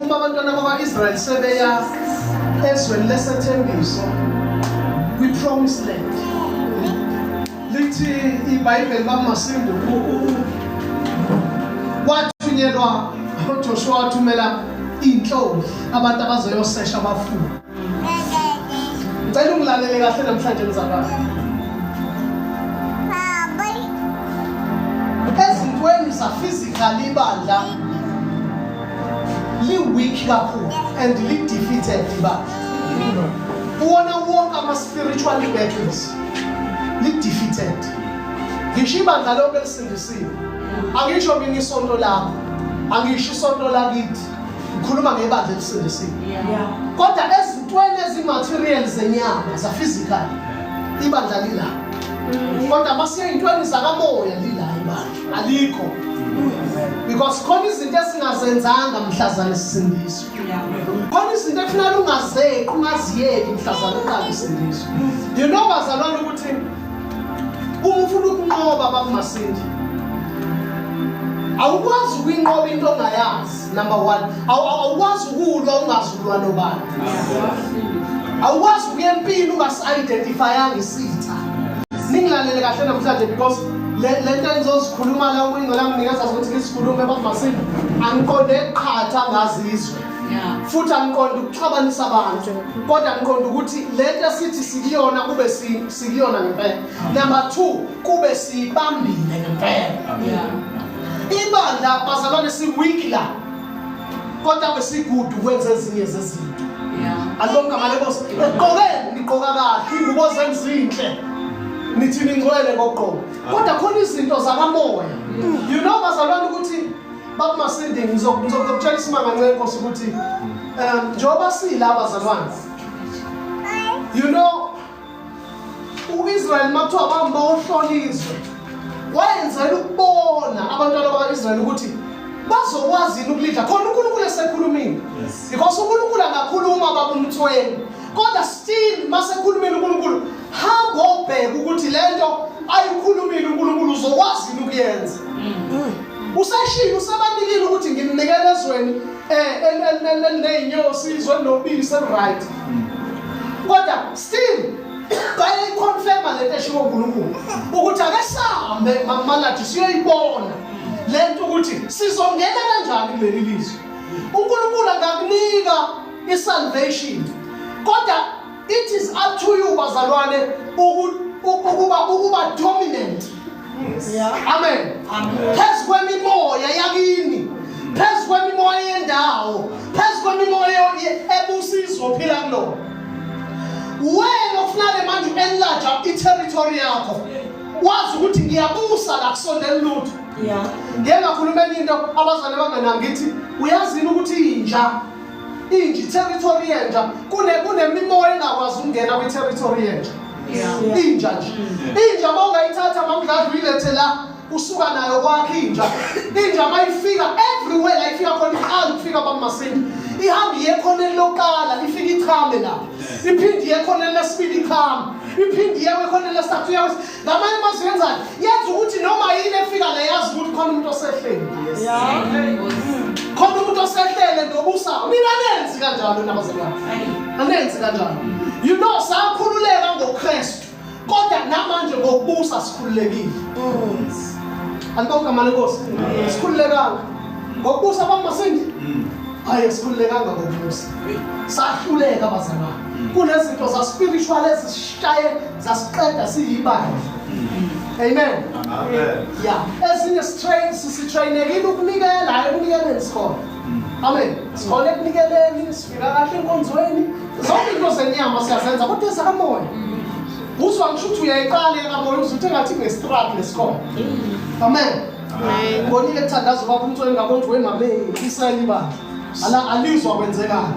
uma abantwana bakwa-israyeli sebeya ezweni lesethembiso kwi-promise land lithi ibhayibheli bamasindu wathunyelwa uJoshua wathumela inhloli abantu abazoyosesha abafundi Ngicela ungilalele kahle namhlanje mzalwane. Ezintweni zaphysically ibandla li-weak kakhulu and li-defeated ibandla. Uwona wonke ama-spiritual battles li-defeated. Ngisho ibandla lonke lisindisiwe. Angisho mina isonto lakho. Angisho isonto lakithi. ngikhuluma ngebandla elisindisiwe kodwa ezintweni ezimaterial zenyama zaphysical ibandla lila mm. kodwa masiye ey'ntweni zakamoya lila ibandla alikho because khona izinto esingazenzanga mhlazane sisindiswe khona izinto ekufanele ungazeqi ungaziyeki mhlazane uqale isindiswe you know bazalwane ukuthi uma ufuna ukunqoba bakumasindi awukwazi ukuyinqoba into ongayazi number one awukwazi ukulwa ungazi ukulwa nobani awukwazi ukuya empini ungasi-identifyanga isitha ningilalele kahle namhlanje because le nto engizozikhuluma la umingcela nginikeza ukuthi ngisikhulume bakumasini angiqonde qhatha ngazizwe futhi angiqondi ukuxabanisa abantu kodwa ngiqonda ukuthi le nto esithi sikuyona kube sikuyona ngempela number two kube siyibambile ngempela ibandla bazalwane si-weak la kodwa kwesigudu kwenza ezinye zezinto alonke amalebos eqoke ngiqoka kahle ingubo zenzinhle nithi ningcwele koqobo kodwa khona izinto zakamoya you know bazalwane ukuthi Baba Masindi ngizokutshela isimanga nce Nkosi ukuthi um njengoba sila abazalwane you know uIsrael makuthiwa bamba uhlonizwe wayenzela ukubona abantwana bakaIsrael ukuthi bazokwazi ukulidla khona uNkulunkulu esekhulumile because uNkulunkulu angakhuluma baba umthweni kodwa still masekhulumile uNkulunkulu hamba obheka ukuthi lento ayikhulumile uNkulunkulu uzokwazi ukuyenza mm. usashilo usebanikile ukuthi ngimnikele ezweni eh nezinyosi izwe nobisi right mm. kodwa still bayayiconfirma lento eshiwo uNkulunkulu ukuthi ake sihambe mamalathi siyoyibona lento ukuthi sizongena kanjani kuleli lizwe uNkulunkulu akakunika isalvation kodwa It is up to you bazalwane ukuba ukuba dominant. Yeah. Amen. Amen. Phezu kwemimoya yakini. Phezu kwemimoya yendawo. Phezu kwemimoya ebusizwe ophila kulo. Wena ofunale manje enlarge i-territory yakho. Wazi ukuthi ngiyabusa la kusondela lutho. Yeah. Ngeke ngakhuluma into abazane abanganangithi uyazini ukuthi inja inje i-territory yenja kunemimoya engakwazi ukungena kwi-territory yenja inja nje mm. inja uma ungayithatha mamdladla uyilethe la usuka nayo kwakhe inja inja uma ifika everywhere la ifika khona iqala ukufika bamasinda ihamba iye khoneni lokuqala ifike ichame lapho iphinde iye khoneni lesibili ichame iphinde iye khoneni lesithathu ngamanye amazwi yenzani yenza ukuthi noma yini efika la yazi ukuthi khona umuntu osehleli khona umuntu osehlele nobusa mina anenzi kanjalo nabazalwane anenzi kanjalo you know sakhululeka ngokristu kodwa namanje ngokubusa sikhululekile alibongamane nkosi sikhululekanga ngokubusa bamasingi hayi sikhululekanga ngokubusa sahluleka bazalwane kunezinto zaspiritual ezisishaye zasiqeda siyibandla amen ya esinye sitrainekile ukunikela hayi ekunikeleni sikhona amen sikhona ekunikeleni sifika kahle enkonzweni zonke into zenyama siyazenza kodwa ezikamoya uzwa ngisho ukuthi uyayiqala ekamoya uze uthe ngathi ngestruggle lesikhona amen bonile kuthandaza ubaba umtsweni ngabona ukuthi wemame isayibandla Ala alizwa kwenzekani.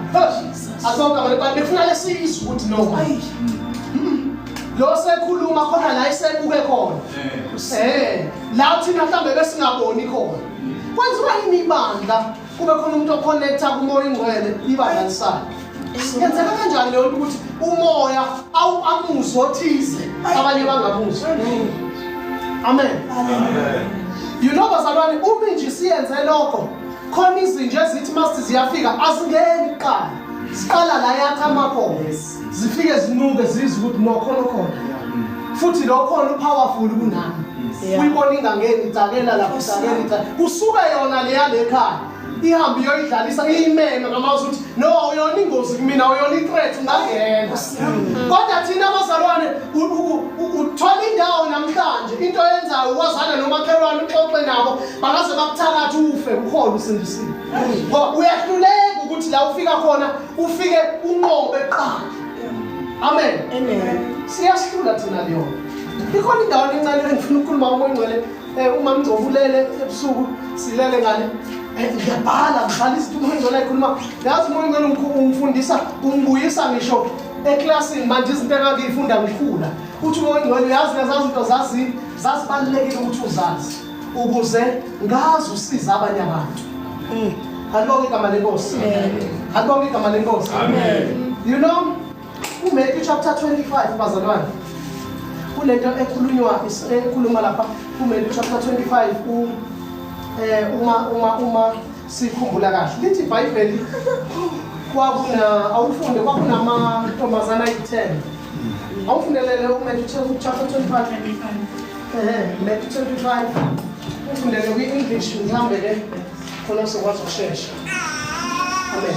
Asoka abantu bathi befuna lesizwe ukuthi no. Hmm. Lo sekhuluma khona la isebuke khona. Eh. eh, la thina mhlambe besingaboni khona. Hmm. Kwenziwa yini ibandla? Kube khona umuntu oconnecta kumoya ingcwele ibandla lisana. Yenzeka kanjani leyo ukuthi umoya awu amuzwe othize abanye bangamuzwe. Amen. Amen. You know bazalwane uma nje siyenze lokho khona izinja ezithi must ziyafika azingeni kuqala siqala la yakha amakhomo zifike zinuke zizwe ukuthi nokhona okhona futhi lokhona upowerful kunami uyibona ingangeni itsakela lapho isakela kusuke yona leya lekhaya ihambe iyoyidlalisa iyimeme ngamazwi ukuthi no uyona ingozi kumina uyona i-threat ungangena kodwa thina abazalwane uthola indawo namhlanje into yenzayo ukwazana nomakhelwane uxoxe nabo bangaze bakuthakathi ufe ukhona usindisile ngoba uyahluleka ukuthi la ufika khona ufike unqobe qala amen amen siyahlula thina leyona ikhona indawo encane engifuna ukukhuluma umoya ngcwele Eh uma Mngcobo ulele ebusuku silale ngale. Eh ngiyabhala ngibhala izinto umuntu engcola ekhuluma. Yazi umuntu engcola umkhulu umfundisa umbuyisa ngisho eklasini manje izinto engakuyifunda ngikhula. Uthi umuntu engcola yazi lezazi izinto zazi zasibalulekile ukuthi uzazi ukuze ngazi usiza abanye abantu. Mm. Alibonge igama lenkosi. Alibonge igama lenkosi. Amen. You know UMatthew chapter 25 bazalwane kunento ekhulunywa ekhuluma lapha kuMatthew chapter 25 u eh uma uma uma sikhumbula kahle lithi iBhayibheli kwakuna awufunde kwakunama ntombazana ayi10 awufundelele uMatthew chapter 25 eh Matthew 25 ufundele kwi English mhlambe ke khona sokwazi ukushesha amen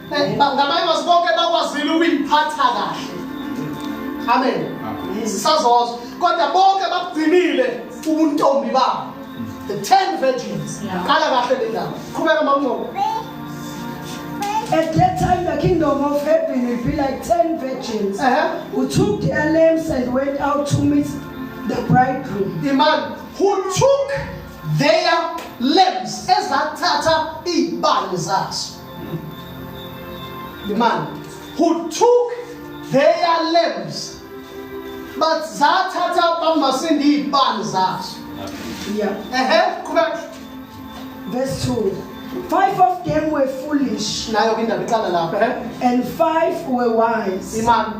Ngabanye bathi bonke bakwazile ukuyiphatha kahle. Amen. Sisazozwa kodwa bonke bakugcinile ubuntombi babo. The 10 virgins. Qala kahle le ndaba. Qhubeka mamncoko. At that time, the kingdom of heaven will be like ten virgins uh-huh. who took their lamps and went out to meet the bridegroom. The man who took their lamps ezathatha iy'bani zazo The man who took their lambs but zathatha bamasindi iy'bani zazo yeah. ehe qhubeka verse 2 Five of them were foolish. Nayo ke indaba iqala lapho, eh? And five were wise. Imani.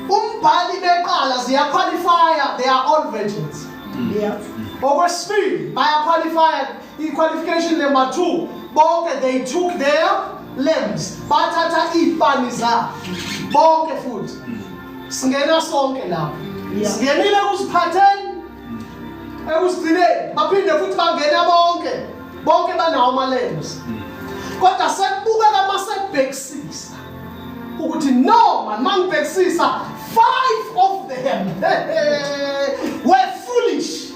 Umbhali beqala ziya qualify, they are all virgins. Mm. Yeah. Okwesibili baya qualify I-qualification number 2 bonke they took their limbs bathatha iy'pani zabo bonke futhi singena sonke lapho singenile ekuziphatheni ekuzigcineni baphinde futhi bangena bonke bonke banawo ama-limbs kodwa sekubukeka uma sekubhekisisa ukuthi no man uma ngibhekisisa five of them were foolish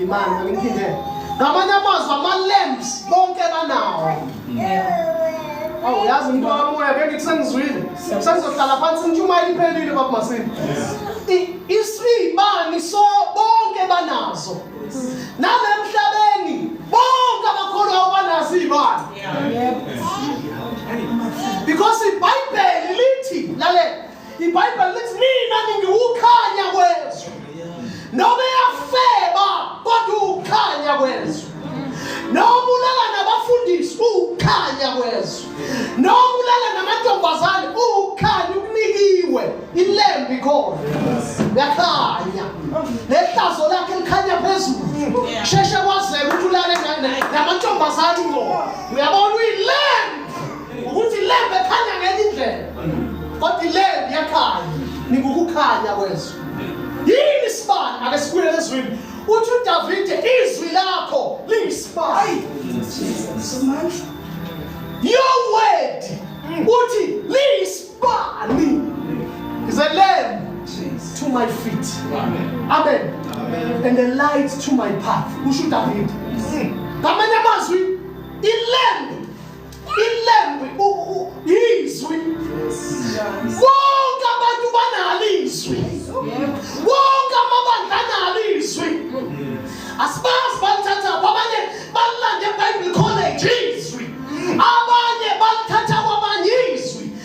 Imali ngimphinde. Ngamanye amazwi ama-lamps bonke banawo. Awu yazi umuntu wakamoya ke ngithi sengizwile. Sengizohlala phansi intshumayelo iphelile baba Masini. Isibani so bonke banazo. Nalemhlabeni bonke abakholwa ubanazo izibani. Yebo. Because ibhayibheli lithi lalela IBhayibheli lithi mina ngiwukhanya kwezwe. Noma yafeba kodwa ukhanya kwezwe. Noma ulala nabafundisi ukhanya kwezwe. Noma ulala namantombazane ukhanya ukunikiwe ilembi khona. Yakhanya. Lehlazo lakhe likhanya phezulu. Sheshe kwazeka ukuthi ulale namantombazane ngo. Uyabona uyilembi ukuthi ilembe ekhanya ngenye indlela kodwa ilembe iyakhanya ningukukhanya kwezwe yini isibani ake sibuye lezwini uthi udavide izwi lakho liyisibani your word uthi liyisibani is a lamb to my feet amen, amen. amen. and a light to my path kusho udavide ngamanye amazwi ilembe ilembu izwi bonke abantu banalo izwi bonke amabandla analo izwi asibazi balithatha abanye balilande ebible college izwi abanye balithatha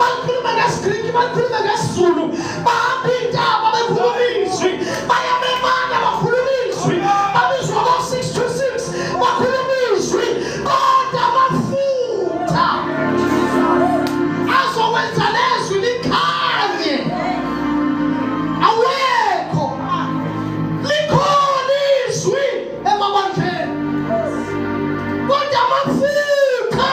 bakhuluma ngesigriki bakhuluma ngesizulu bahamba iy'ntaba bekhuluma izwi bayamemana bakhuluma izwi babizwa ko-six to six bakhuluma izwi kodwa amafutha azokwenza lezwi likhanye awekho likhona izwi emabandleni kodwa amafutha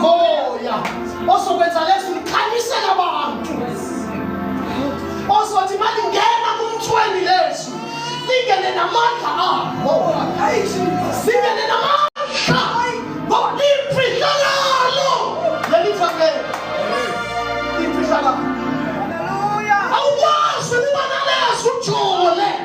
moya ozokwenza leso ukhanyisela abantu ozothi uma lingena kumthweni leso lingene namandla abo singene namandla ngoba limfihlakalo leli fakele limfihlakalo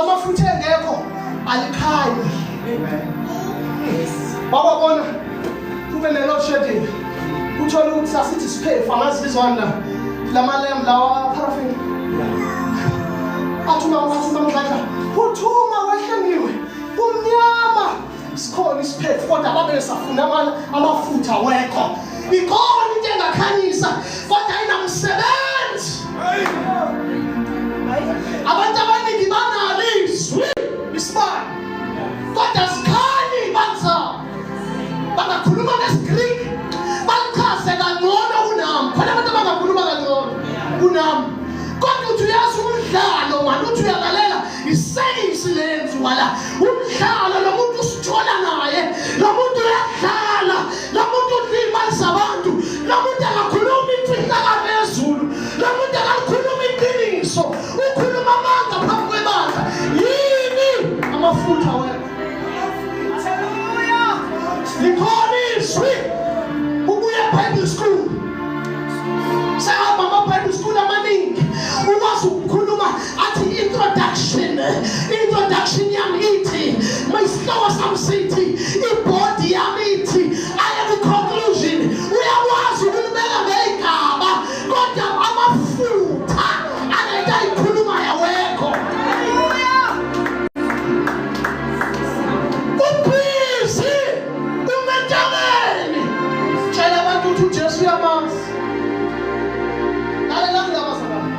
amafutha engekho alikhanyi baba bona kube ne-load shedding uthole ukuthi sasithi siphefu angazi bizwani la lamalembu lawa paraffin athuma athuma mdladla uthuma wehle ngiwe kumnyama sikhona isiphethu kodwa babe safuna amana amafutha wekho ikona into engakhanyisa kodwa inamsebenzi abantu abaningi banalo izwi isibani kodwa sikhanyi banzao bangakhuluma ngesigreek balichaze kangcono kunami khona abantu abangakhuluma kangcono kunami kodwa uthi uyazi umdlalo mani uthi uyalalela isayinsi lenziwa la umdlalo lo muntu usithola naye lo muntu uyadlala lo muntu ulimaza abantu lo muntu akakhulumi imfihlakalo yezulu lo muntu akakhulumi iqiniso ukhuluma amanga phambi kwebandla yini amafutha wena likhona izwi ubuye bible school sahamba ama-bible school amaningi ukwazi ukukhuluma athi introduction introduction yami ithi my slow some city ibody yami ithi i am the conclusion uyakwazi ukulibeka ngegaba kodwa amafutha anento ayikhuluma yawekho ubhizi umentabeni tshela abantu ukuthi ujesu uyamazi lalela ndaba zabana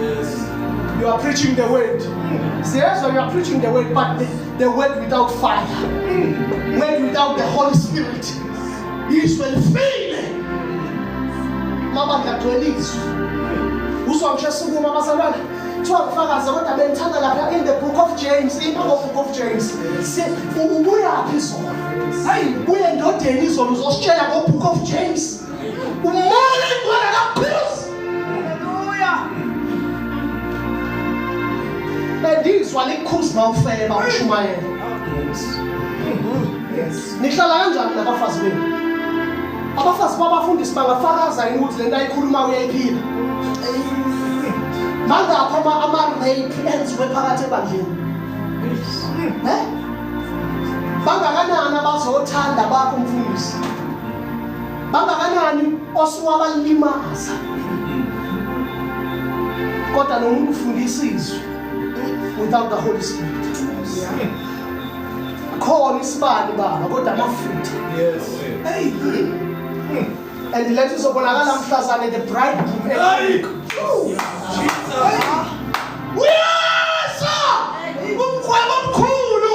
Yes. You are preaching the word. Yes, you are preaching the word, but the, the word without fire, word without the Holy Spirit, is will fail. Mama ngiyagcwelizwa. Uzwa ngisho sukuma abazalwane. Kuthiwa ngifakaze kodwa bengithanda lapha in the book of James, in the book of James. Se ubuyaphi izolo? Hayi, buye ndodeni izolo uzositshela ngo book of James. Umoya ingcwele kaphuzi. Haleluya. Bendizwa likhuzi mawufeba ushumayela. Yes. Nihlala kanjani nabafazi benu? Abafazi babafundisi bangafakaza yini ukuthi lento ayikhuluma uyayiphila? Mangakho ama ama rape enziwe phakathi ebandleni. Eh? Bangakanani abazothanda bakho mfundisi? bangakanani osuwabalimaza kodwa nomuntu ufundisa izwi without the holy spirit khona isibani baba kodwa amafutha yes hey and lethu izobonakala mhlazane the bridegroom eqhubeka uyasha umkhwebo omkhulu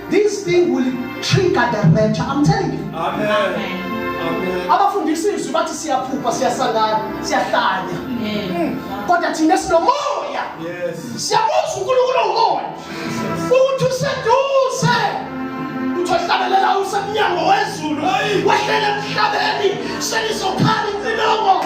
This thing will trigger the rapture. I'm telling you. Amen. Amen. abafundisa izwi bathi siyaphupha siyasangana siyahlanya hmm. kodwa thina sinomoya siyamuzwa unkulunkulu ongomoya ukuthi useduze uthi ohlabelela usemnyango wezulu wehlele emhlabeni selizokhala incinongo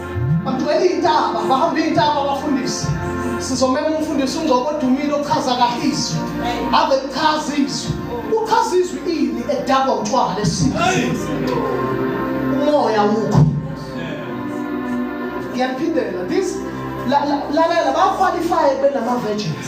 bagcwele iy'ntaba bahamba iy'ntaba abafundisi sizomema umfundisi ungcobo odumile ochaza kahle izwi ave lichaza izwi uchaza izwi ini edakwa utshwala lesizwe umoya wukho ngiyaphindela this lalela baqualifye benama-virgins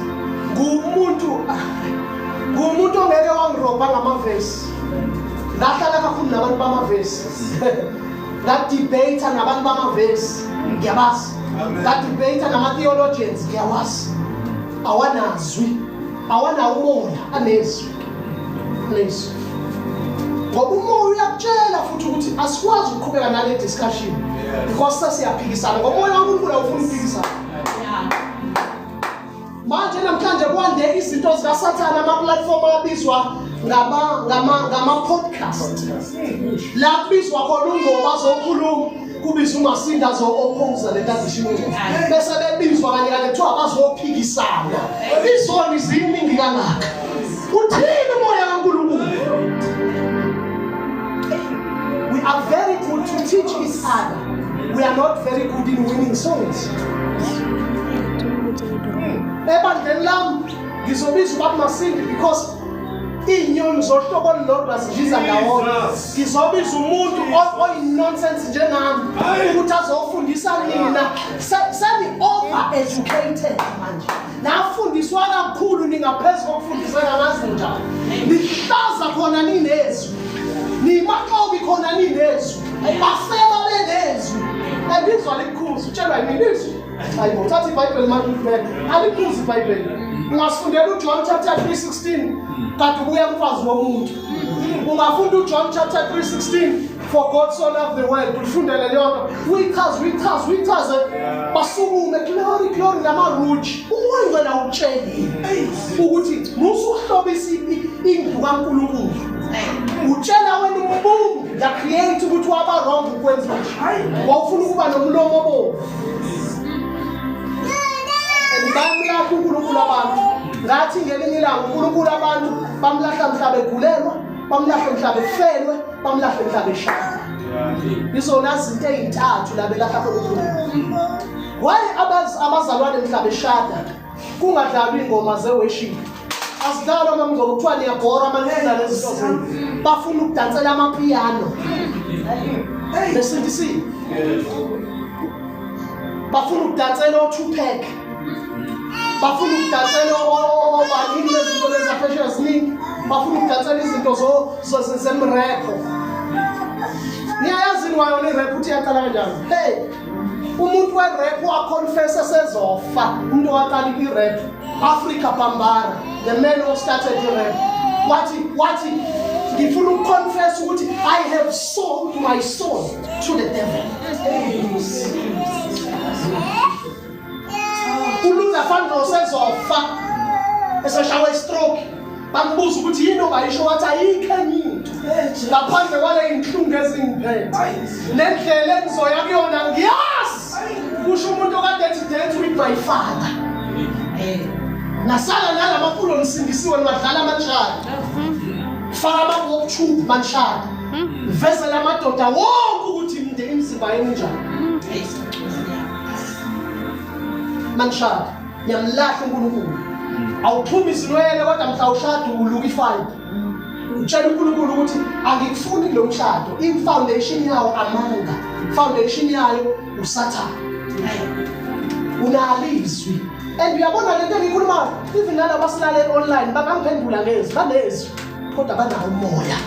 ngumuntu ngumuntu ongeke wangirobha ngamavesi ngahlala kakhulu nabantu bamavesi ngadibheyitha nabantu bamavesi ngiyabazi ngadibheyitha nama-theologians ngiyawazi awanazwi awanawo umona anezwi anezwi ngoba umoya uyakutshela futhi ukuthi asikwazi ukuqhubeka nale discussion because sesiyaphikisana ngomoya wankulunkulu awufuni ukuphikisana manje namhlanje kwande izinto zikasathane amaplatform abizwa ngama-podcast la kubizwa khona ungoma zokhuluma kubiza umasinda zo-opposa le ntanzishimo bese bebizwa kanye kanye kuthiwa bazophikisana izoni ziningi kangaka uthini umoya kankulunkulu we are very good to teach each other We are not very good in winning songs. Ebandleni lam ngizobiza uBaba Masindi because iinyoni zohlobo olulodwa zibiza ndawonye ngizobiza umuntu oyinonsense njengami ukuthi azofundisa nina seni-over educated manje nafundiswa kakhulu ningaphezu kokufundisa kamazi njani nihlaza khona ninezwi nimaxobi khona ninezwi Bafeba bengezwi. Ebizwa likhuzi utshelwa yini izwi? Hayibo uthatha iBhayibheli manje ubheke. Alikhuzi iBhayibheli. Ungafundela uJohn chapter 3:16 kanti ubuya umfazi womuntu. Ungafunda uJohn chapter 3:16 for God so loved the world ulifundele leyonto uyichaze uyichaze uyichaze basukume glory glory namaruji umoya ngcela utshelile ukuthi musuhlobisa indlu kaNkulunkulu utshela wena ububu la create ukuthi waba wrong ukwenza nje wawufuna ukuba nomlomo bo ngibani lapho uNkulunkulu abantu ngathi ngelinye ilanga uNkulunkulu abantu bamlahla mhlaba egulelwa bamlahla mhlaba efelwe bamlahla mhlaba eshaya izona zinto ezintathu labelahla uNkulunkulu why abazalwane mhlaba eshada kungadlalwa ingoma ze worship asidlalwa uma mngoma kuthiwa niyabhora manje kudlala ezisozini bafuna ukudansela amapiano besindisile bafuna ukudansela o-tupac bafuna ukudansela obaningi lezinto lezaphesheya ziningi bafuna ukudansela izinto zemrepho niyayazi ni wayona irepho ukuthi yaqala kanjani hey umuntu werap waconfessa sezofa umuntu owaqala irap africa bambara the man who started irap wathi wathi ngifuna ukuconfessa ukuthi i have sold my soul to the devil Ulunga fanele usezofa eseshawa istroke bambuza ukuthi yini ongayisho wathi ayikho enye into ngaphandle kwale inhlungu ezingiphethe nendlela engizoya kuyona ngiyazi kusho umuntu okade ethi date with my father nasala nalamafulo nisindisiwe niwadlala amatshana faka abantu wokuthumba manhlaka vezela amadoda wonke ukuthi imizimba yenu njani mangishada ngiyamlahla uNkulunkulu awuphumi izinwele kodwa mhla ushada uluka ifight utshela uNkulunkulu ukuthi angikufuni lo mshado ifoundation yawo amanga foundation yayo usathana unalizwi and uyabona lento engikhuluma even nalabo asilale online bangangiphendula ngezwi banezwi kodwa banawo umoya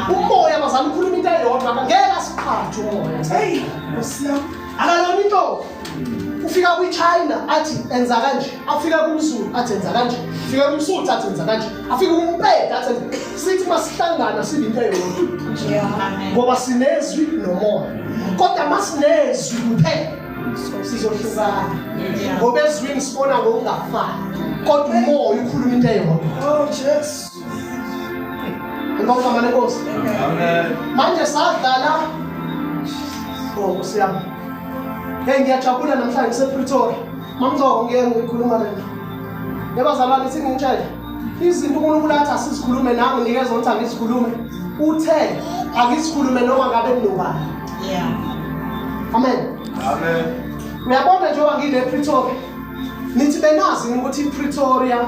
umoya bazama ukhuluma into eyodwa ngeke asiqhathe umoya heyi ngosiyam akalona into ufika kwichina athi enza kanje afika kumzulu athi enza kanje afika kumsuthu athi enza kanje afika kumpeda athi sithi masihlangana sibe into eyodwa ngoba sinezwi nomoya kodwa masinezwi kuphela sizohlukana ngoba ezwini sibona ngokungafani kodwa umoya ukhuluma into eyodwa oh jesu ngomama lenkosi manje sadlala oh nkosi yami hey ngiyajabula namhlanje ngisepretoria mamngcoko ngeke ngikhuluma lena yabazalwane singitshele izinto unkulunkulu athi asizikhulume nawe ngikezwa ukuthi angizikhulume uthe angizikhulume noma ngabe kunobani amen amen uyabona njengoba ngile pretoria nithi benazi ukuthi ipretoria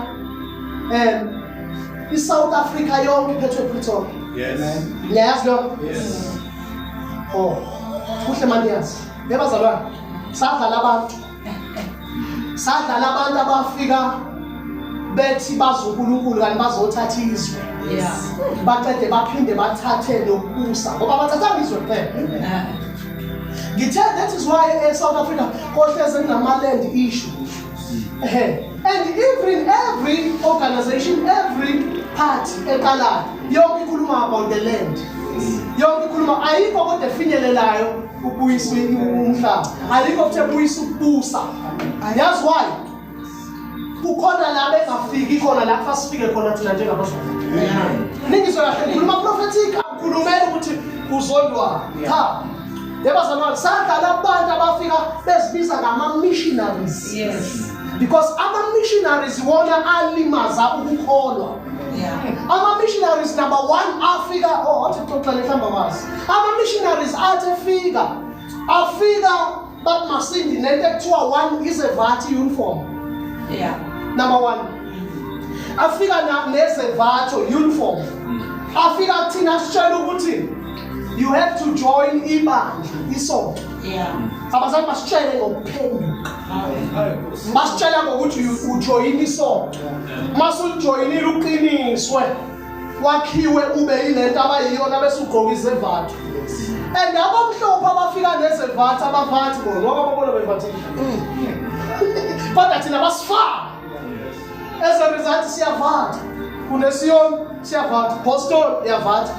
um i-south africa yonke iphethwe epretoria niyayazi lokho o oh, kuhle maniyazi nebazalwane sadlala abantu sadlala abantu abafika bethi bazonkulunkulu kanti bazothatha izwe baqede baphinde bathathe nokubusa ngoba bathathanga izwe kuphela ngithe that is why e-south africa kohleze kunama-land issue and even every organization every party eqalayo yonke ikhuluma about the land yonke ikhuluma ayikho kodwa efinyelelayo kubuyiswa umhlaba alikho kuthe buyisa ukubusa yazi why kukhona la bengafiki khona la fasifike khona thina njengabazwa ningizwe kahle ngikhuluma prophetic akukhulumela ukuthi kuzondwa cha yebazalwane sadlala abantu abafika bezibiza ngama-missionaries yes because ama-missionaries wona alimaza ukukholwa ama-missionaries number one afika o oh, athi xoxele mhlawumbe amazi ama-missionaries athi efika afika bathi masindi nento ekuthiwa one is a vati uniform yeah. number one afika nezevatho uniform afika kuthina asitshela ukuthi you have to join ibandla isonto yeah. abazali basitshele ngokuphenduka basitshela ngokuthi ujoyina isonto masulijoyinile uqiniswe wakhiwe ube yilento abayiyona bese ugqoka izevathu and abamhlophe abafika nezevathu abavathi bona ngoba babona bevathile kodwa thina basifaka As a result siyavatha. KuneSiyon siyavatha. Boston iyavatha.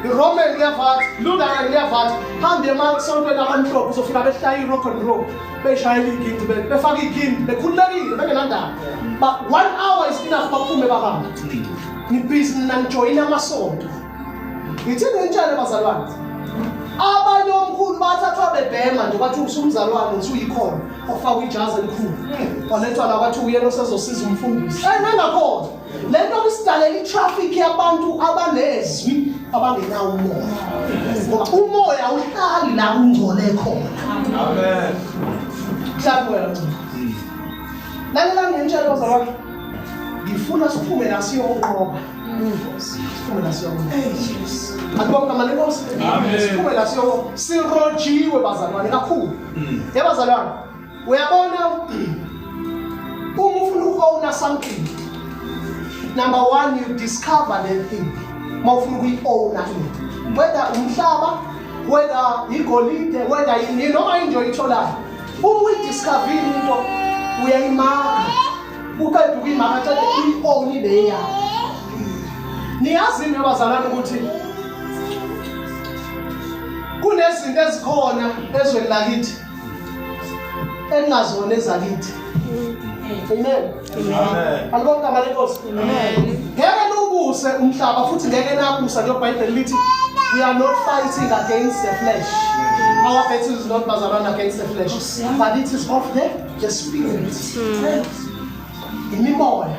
Roman iyavatha. Lutheran iyavatha. Hamba emasontweni amamhlophe uzofika behlaya irock and roll. Beshayela igindi befaka igindi bekhululekile bengenandaba. But one hour is enough baphume bahambe. Ngibhizi nina ngijoyina amasonto. ngithini ngitshele bazalwane abanye omkhulu bathathwa bebhema nje kwathi usumzalwane uthi uyikhona ofakwa ijazi elikhulu walethwa la kwathi uyena osezosiza umfundisi enengakhona le nto kusidalela itraffic yabantu abanezwi abangenawo umoya ngoba umoya uhlali la ungcole khona amen mhlawumbe wena lalela ngentshelo bazalwane ngifuna siphume la siyoqoba Siphume la siyoko. Akubonga mali Nkosi. Siphume la siyoko. Sirojiwe bazalwane kakhulu. Mm. Yebo bazalwane. Uyabona uma ufuna uku-owna something number one you discover the thing uma ufuna ukuyi-owna into whether umhlaba whether yigolide whether yini noma into oyitholayo uma uyidiscovile into uyayimaka uqeda ukuyimama athathe i-oni le yakho niyazi into yabazalwane ukuthi kunezinto ezikhona ezweni lakithi engingazona ezakithi amen alibonke amane nkosi ngeke niwubuse umhlaba futhi ngeke nabusa njengobhayibheli lithi we are not fighting against the flesh our battle is not bazalwane against the flesh but it is of the Just be mm. imimoya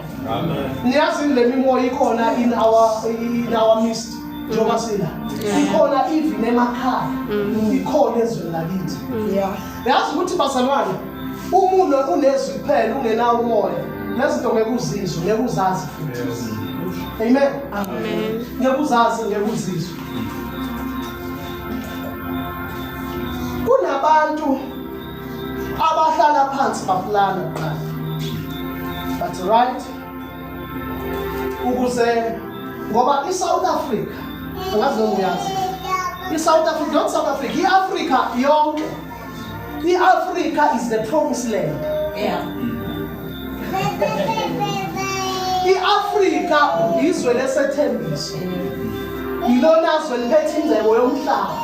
niyazi le mimoya ikhona in our in our midst njengoba mm. sila ikhona even emakhaya mm. ikhona ezweni lakithi mm. yazi ukuthi bazalwane umuno unezwi kuphela ungenawo umoya nezinto ngeke uzizwe ngeke uzazi futhi amen amen ngeke uzazi ngeke uzizwe kunabantu abahlala phansi baplana kuqala but right ukuze ngoba i-south africa angazi noma uyazi i-south africa not south africa i-afrika yonke i-afrika is the promise land yeah. I-Afrika yizwe lesethembiso yilona zwe liphethe ingcebo yomhlaba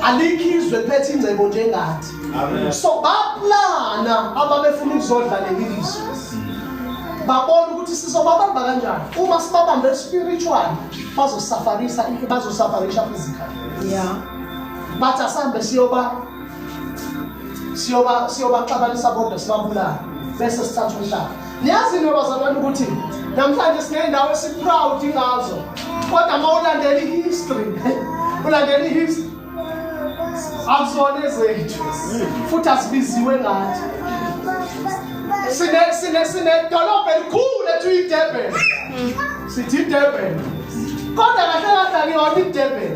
alikho izwe liphethe ingcebo njengathi so baplana ababefuna ukuzodla leli lizwe babona ukuthi sizobabamba kanjani uma sibabambe spiritual bazosafarisa bazosafarisha physically yeah bathi asambe siyoba siyoba siyobaxabanisa kodwa sibabulala bese sithatha umhlaba niyazi into bazalwane ukuthi namhlanje siney'ndawo esi-proud ngazo kodwa uma ulandela i-history ulandela i-history akuzona ezethu futhi asibiziwe ngathi sinedolobha elikhulu ethu idurban sithi idurban kodwa kahle kahle akuyona idurban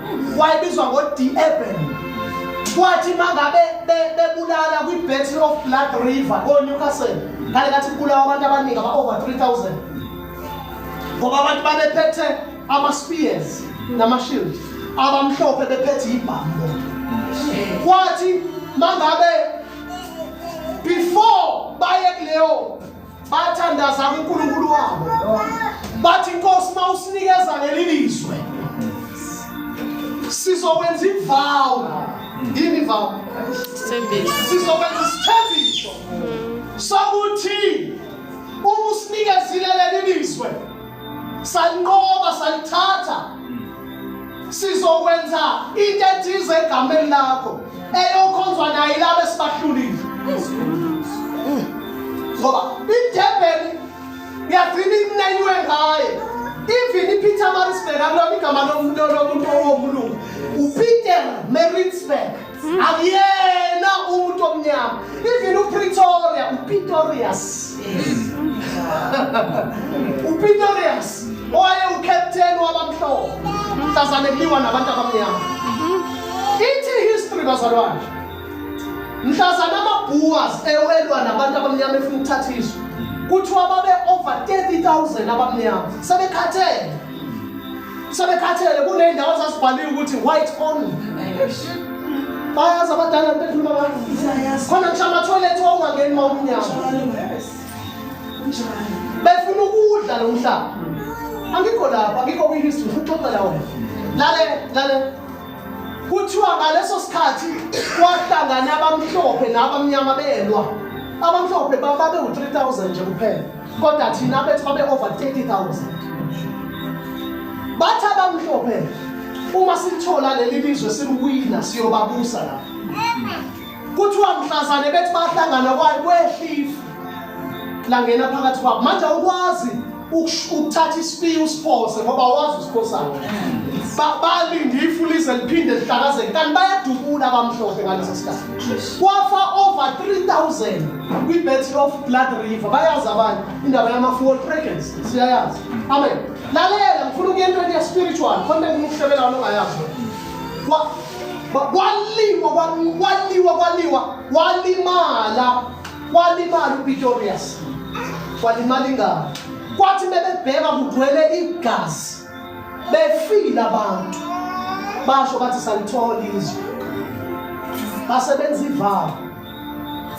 wayebizwa ngo-deurban kwathi mangabe bebulala kwi-battle of blood river konewcastle ngale kathi kubulawa abantu abaningi aba-over 3000 ngoba abantu babephethe ama-spears nama-shield abamhlophe bephethe ibhambo kwathi mangabe before baye kuleyo bathandaza kuNkulunkulu wabo bathi Nkosi mawusinikeza leli lizwe sizokwenza ivow yini ivow isithembiso sizokwenza isithembiso sokuthi uma usinikezile leli lizwe salinqoba salithatha sizokwenza into ethize egameni lakho eyokhonzwa naye laba esibahlulile ngoba idurban ngiyagcina inaywe ngaye even ipeter marisburg akulona igama lomuntu owomlungu upeter marisburg akuyena umuntu omnyama even upretoria upitorius upitorius owaye ucaptain wabamhlophe mhlazane kuliwa nabantu abamnyama ithi history bazalwane mhlazane amabhuwas ewelwa nabantu abamnyama efuna ukuthatha izwe kuthiwa babe over 30 000 abamnyama sebekhathele sebekhathele kuney'ndawo zasibhaliwe ukuthi white only bayazi abadala bekhuluma abantu khona ngisho amathoyilethi wawungangeni ma umnyama befuna ukudla lo mhlaba angikho lapho angikho kwi-history futhi uxoxela wena lale lale kuthiwa ngaleso sikhathi kwahlangana abamhlophe nabamnyama belwa abamhlophe bababeu-3000 nje kuphela kodwa thina bethi babe over 30000 bathi abamhlophe uma sithola leli lizwe sibuwina siyobabusa la kuthiwa mhlazane bethi bahlangana kwayo kwehlifu langena phakathi kwabo manje ukwazi ukuthatha isipiyi usiphose ngoba wazi usiphosana balinde ifu lize liphinde lihlakazeke kanti bayadubula abamhlophe ngaleso sikhathi kwafa over 3000 kwi-battle of blood river bayazi abanye indaba yama-fuel fragrance siyayazi amen lalela ngifuna ukuya entweni ye-spiritual khona ngikuhlebela wona ongayazi kwaliwa kwaliwa kwaliwa walimala walimala upitorius walimala ingalo kwathi bebebheka kugcwele igazi befile abantu basho bathi salithola izwe basebenza ivalo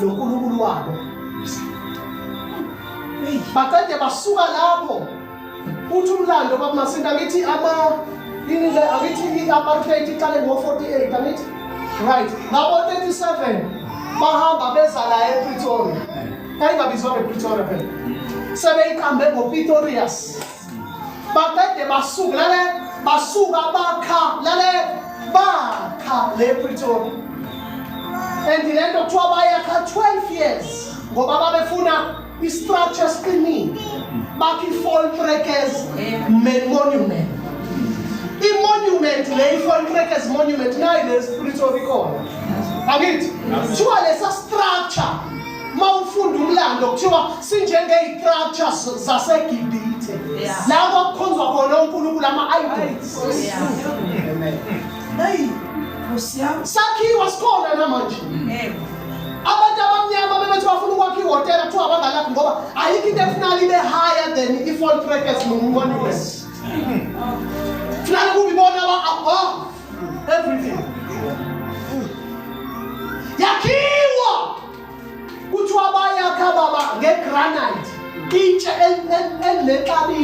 noNkulunkulu wabo baqede basuka lapho uthi umlando bakumasinta angithi ama ini le angithi i-apartheid iqale ngo-48 angithi right ngabo-37 bahamba beza la epretoria kayingabizwa ngepretoria phela sebeyiqambe ngopitorius baqede basuka lale basuka bakha lale bakha le Pretoria and le nto kuthiwa bayakha 12 years ngoba babefuna i-structure siqinile bakha i-foltrekes main monument i-monument le i-foltrekes monument nayi le Pretoria ikhona angithi kuthiwa lesa structure uma ufunda umlando kuthiwa sinjengey'structures zasegibhithe la kwakukhonzwa khona onkulunkulu ama-idols sakhiwa sikhona namanje abantu abamnyama bebethi bafuna ukwakha ihhotela kuthiwa abangalaphi ngoba ayikho into efunala ibe higher than i-fall trackers nomunkonile funala kube ibona aba-above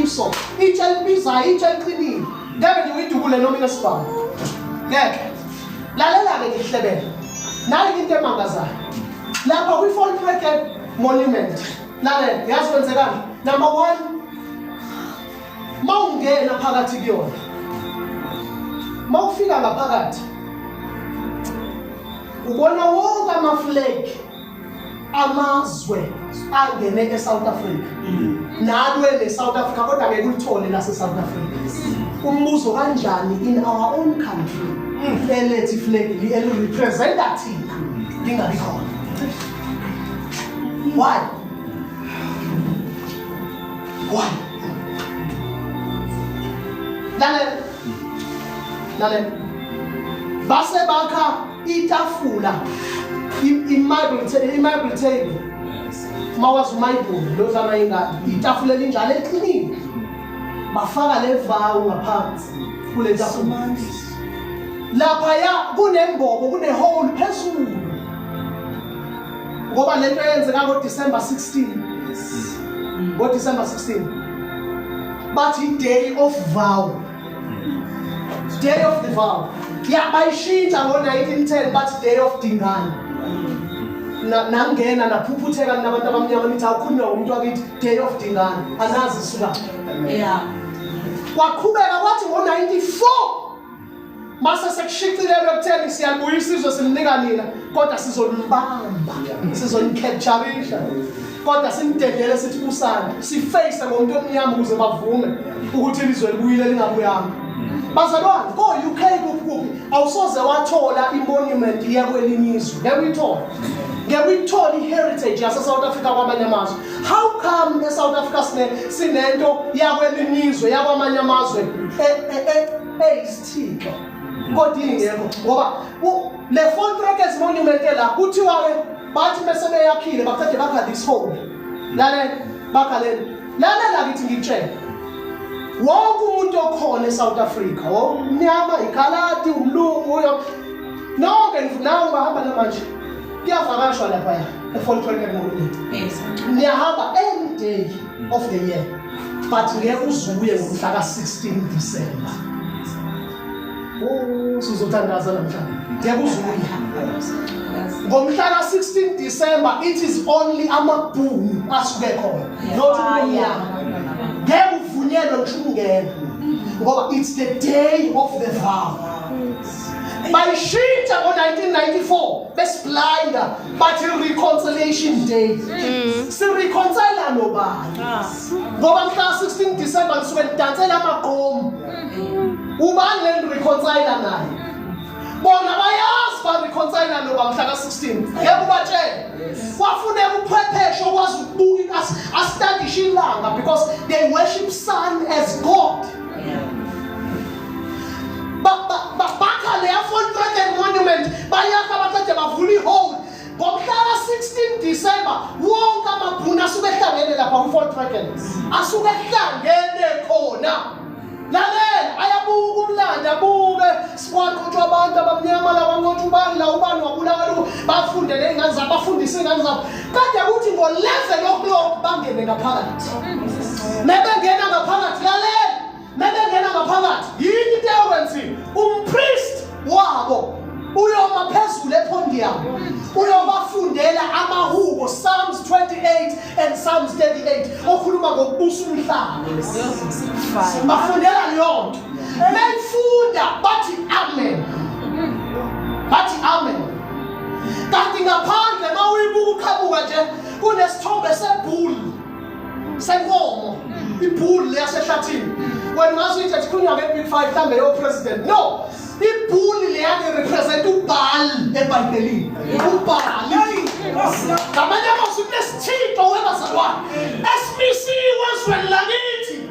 iso itshe elibizayo itshe eliqinile ngeke nje uyidubule noma inesibhamu ngeke lalela-ke ngihlebele nayo into emangazayo lapha kwi-fall bracket monument lalela yazi kwenzekani number one mawungena phakathi kuyona mawufika ngaphakathi ubona wonke amaflegi amazwe angene eSouth Africa nalwe neSouth Africa kodwa ngeke ulithole laseSouth Africa umbuzo kanjani in our own country elethi flag li elirepresenta thina lingabi khona why why lalela lalela base bakha itafula i-marble table mawazi umayibhulu lozana ingane itafula elinjalo eliqinile bafaka le vawu ngaphansi kule tafula laphaya kunembobo kunehole phezulu ngoba le nto eyenzeka ngodisemba 16 ngodisemba 16 bathi i-day of vow day of the vow ya bayishintsha ngo-1910 bathi day of dingane nangena naphuphutheka nabantu abamnyama nithi awukhulunywa ngomuntu wakithi day of dingane anazi isuka ya kwaqhubeka kwathi ngo-94 mase sekushicilelwe kutheni siyalibuya isizwe simnika nina kodwa sizolimbamba sizolikhetsharisha kodwa simdedele sithi kusana sifeyise ngomuntu omnyama ukuze bavume ukuthi ilizwe libuyile lingabuyanga bazalwane ko-uk kuphi awusoze wathola imonument iya kwelinye izwe ngeke uyithole ngeke uyithole i-heritage yasesouth africa kwamanye amazwe how come esouth africa sinento yakwelinye izwe yakwamanye amazwe e, e, e, eyisithixo kodwa ingekho ngoba le contract as monument la kuthiwa ke bathi bese beyakhile baqede bakha this home lale bakha le lale la kithi ngitshela wonke umuntu okhona eSouth Africa womnyama igalati umlungu uyo nonke ngifunayo bahamba namanje kuyavakashwa lapha ya eFort Hare Monument yes niyahamba any day of the year but ngeke uzuye ngomhla ka-16 December oh sizothandaza namhlanje ngeke uzuye ngomhla ka-16 December it is only amabhunu asuke khona not umnyama ngeke uvunyelwe ngishungena ngoba it's the day of the vow bayishintsha ngo-1994 besiblinder bathi reconciliation day mm. sireconcile nobani ah. ngoba mhla 16 December nisuke nidansela amaqomu mm. ubani le reconcile naye bona bayazi ba reconcile noba mhla ka 16 yebo batshela kwafuneka uphwepheshe okwazi ukubuka asitandisha ilanga because they worship sun as god bakha leya Volkswagen Monument bayakha baqede bavula ihole ngomhlaka 16 December wonke amabhunu asuke ehlangene lapha ku-Volkswagen asuke ehlangene khona lalela ayabuka umlando abuke kwaqotshwa abantu abamnyama lawanqotshwa ubani la ubani wabulala bafunde ley'ngane zabo bafundise iy'ngane zabo kade kuthi ngoleve lokulokhu bangene ngaphakathi mebengena ngaphakathi lalela mebengena ngaphakathi yini into eyokwenziwe umpriest wabo uyoma phezulu ephondi yabo uyobafundela amahubo psalms 28 and psalms 38 okhuluma ngokubusa umhlaba bafundela leyo nto Mefunda bathi amen. Bathi amen. Kanti ngaphandle mawuyibuka uqhamuka nje kunesithombe sebhulu senkomo ibhulu leyasehlathini wena ungazi ukuthi athikhulunywa nge-big five mhlawumbe yopresident no ibhuli leyani represent ubhali ebhayibhelini ubhali ngamanye amazwi kunesithixo webazalwane esimisiwe ezweni lakithi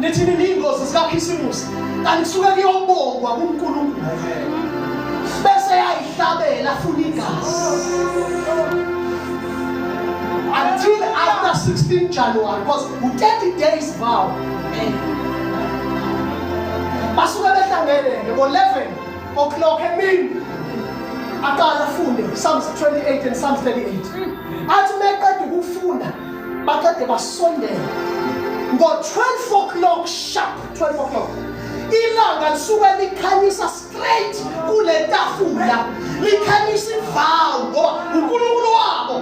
nithini niyingozi zikakhisimusi kanti kusuke kuyobongwa kunkulunkulu bese yayihlabela afuna igazi until after 16 january because u-30 days vow basuke behlangene ngo-11 o'clock emini aqala afunde psalms 28 and psalms 38 athi meqeda ukufunda bakade basondela ngo-12 o'clock sharp 12 o'clock ilanga lisuke likhanyisa straight kule tafula likhanyisa ivawu ngoba unkulunkulu wabo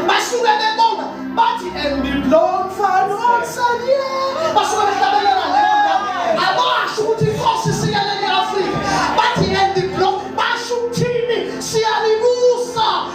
basuke bebonga bathi endiblomfanosanye basuke behlabelela leyo ndawo abasho ukuthi inkosi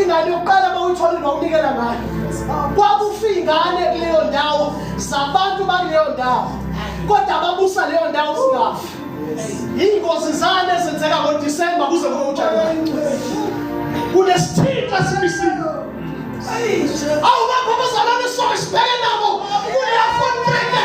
ingane yokuqala bawuyithola nokunikela ngayo kwakufa ingane kuleyo ndawo zabantu bakuleyo ndawo kodwa ababusa leyo ndawo singafi iy'ngozi zane ezenzeka ngodisemba kuze kube ujanuwari kunesithinta sibisile awubakho abazalwane sonke sibheke nabo kuleyafontreke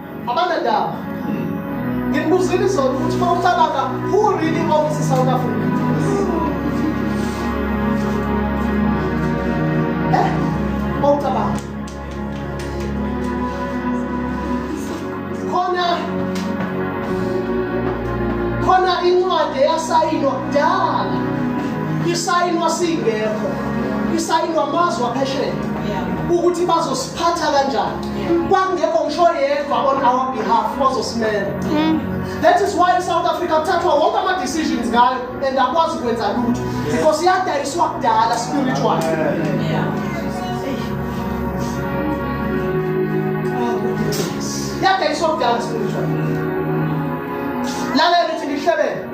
abanandaba ngikubuzile izona ukuthi uma ucabanga who really owns isouth africa eh uma ucabanga khona khona incwadi eyasayinwa kudala isayinwa singekho isayinwa amazwe aphesheya ukuthi bazosiphatha kanjani kwakungekho ngisho yedwa on our behalf ozosimela mm. that is why south africa kuthathwa wonke ama-decisions ngayo and akwazi ukwenza lutho because iyadayiswa kudala spiritual yadayiswa kudala spiritual lalela lithi ngihlebele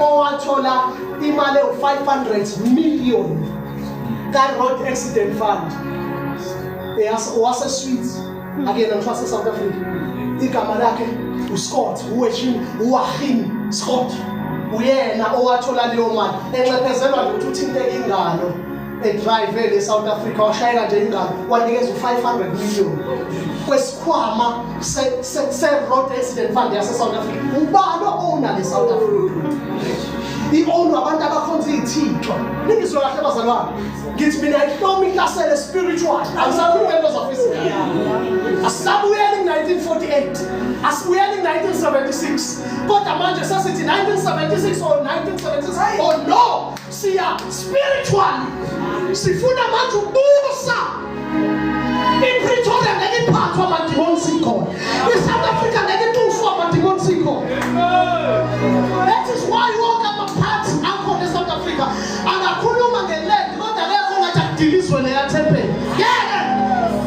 owathola imali ewu-500 million ka-road accident fund waseswit akuyena ngisho wasesouth africa igama lakhe uscott uweshin uwahim scott uyena owathola leyo mali enxephezelwa nje ukuthi uthinteke ingalo edrive le South Africa washayela nje ingane wanikeza u500 million kwesikhwama se se, se road accident fund yase South Africa ubani owona le South Africa iowna abantu abakhonza izithixo ningizwe kahle bazalwane ngithi mina ihloma ihlasele spiritual angisakhuluma into zafisa asabuyele in 1948 asibuyele in 1976 kodwa manje sesithi 1976 or 1976 oh no siya spiritually sifuna manje ukubusa ipretoria ngeke iphathwa amadimoni sikhona isouth africa ngeke itufwa amadimoni sikhona that is why wonke amaphathi akhona esouth africa angakhuluma ngelend kodwa kekho ngathi akudilizwe neyathempeli ngeke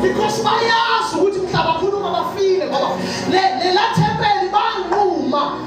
because bayazi ukuthi mhlaba akhuluma bafile ngoba lelathempeli banquma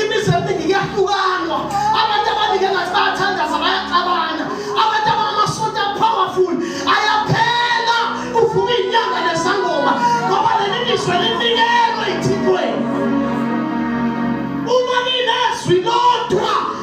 imizi eminingi iyahlukanwa abantu abaningi engathi bayathandaza bayaxabana abantu abangamasonto apowerful ayaphela uvuka inyanga nezangoma ngoba leli lizwe linikelwe ithintweni uma linezwi lodwa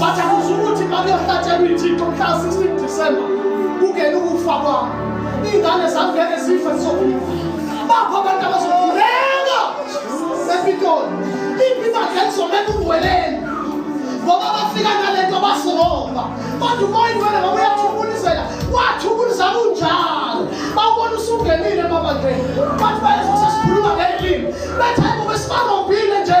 Bathi akusho ukuthi uma kuyohlatshelwa iy'thixo mhla 16 December kungena ukufa kwami. Iy'ngane zami ngeke zife zizophila. Bakho abantu abazokhuleka ePitoli. Impilo yakhe izomela uweleni ngoba bafika nale nto basiromba kodwa umoya ingcwele ngoba uyathubulizela wathubulisa kunjalo bawubona usungenile emabandleni bathi bayezosesikhuluma ngelimi bethe ngoba sibarombile nje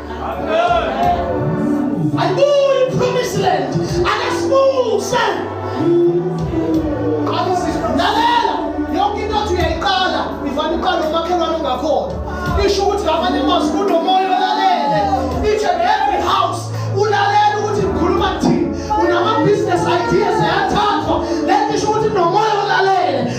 Ayibuye ipromise land. Akasibuse. Lalela yonke into othi uyayiqala ivana iqala umakhelwane ongakhona. Isho ukuthi ngamanye amazwi kunomoya olalele. Each and every house ulalele ukuthi ngikhuluma kuthini. Unama business ideas ayathathwa. Lento isho ukuthi nomoya olalele.